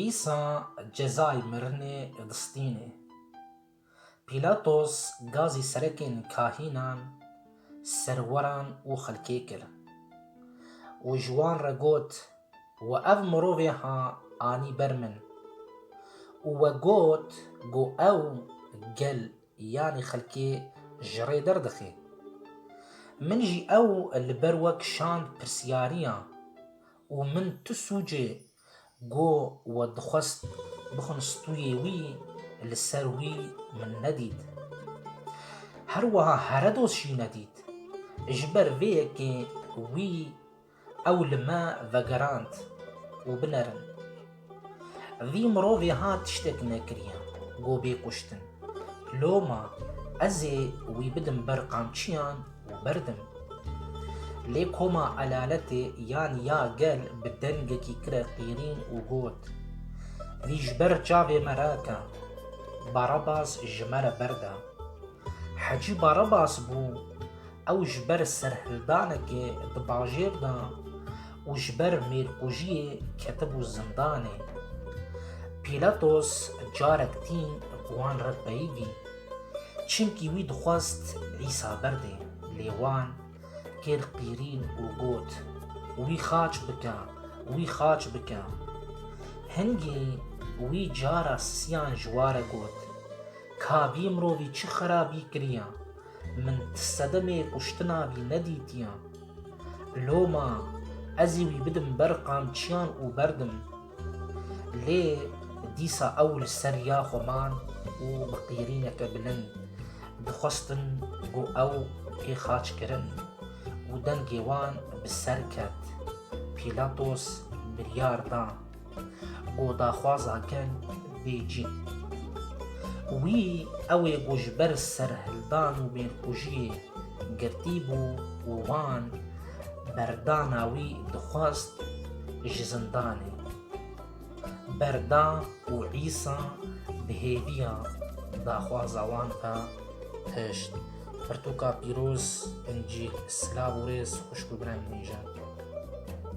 Îsa cezayê mirinê distînê. Pîlatos gazî serekên kahînan, serweran û xelkê kir û ji wan re got, We ev mirovê ha anî ber min û we got ku ew gel Yanî xelkê ji rê derdixê. Min jî ew li ber we kişand pirsyariya û min tu sûcê got we dixwest bixwin stûyê wî li ser wî min nedît. Her wiha heredos jî nedît. Ji ber vê yekê wî Ew li me vegerand û binerin. Vî mirovê ha tiştek nekiriye ku bê kuştin. Loma ez ê wî bidim ber qamçiyan û berdim. Lê koma elaletê yan ya gel bi dengekî kire qîrîn û got, Vî ji ber çavê me rake. Barabas ji me re berda. Hecî Barabas bû, ew ji ber serhildanekê di bajêr de û ji ber mêrkujiyê ketibû zindanê. Pîlatos carek tîn bi wan re peyivî, çimkî wî dixwest Îsa berdê, lê wan kir qîrîn û got, Wî xaç bike, wî xaç bike. Hingî wî cara siyan ji ware got, Ka vî mirovî çi xerabî kiriya, min ti sedemê kuştina vî nedîtiya. Loma ezî wî bidim ber qamçiyan û berdim. Lê dîsa ew li ser riya xwe man û bi qîrîneke bilind dixwestin ku ew pê xaç kirin û dengê wan bi ser ket. Pîlatos biryar da. û daxwaza ker bê cîn. Wî ew ê ku ji ber serhildan û mêrkujiyê girtî bû û wan berdana wî dixwest ji zindanê. Berda û Îsa bi hêviya daxwaza wan re tişt. Pirtûka pîroz, Încîl. Silav û rêz xwişk û birem nîjan.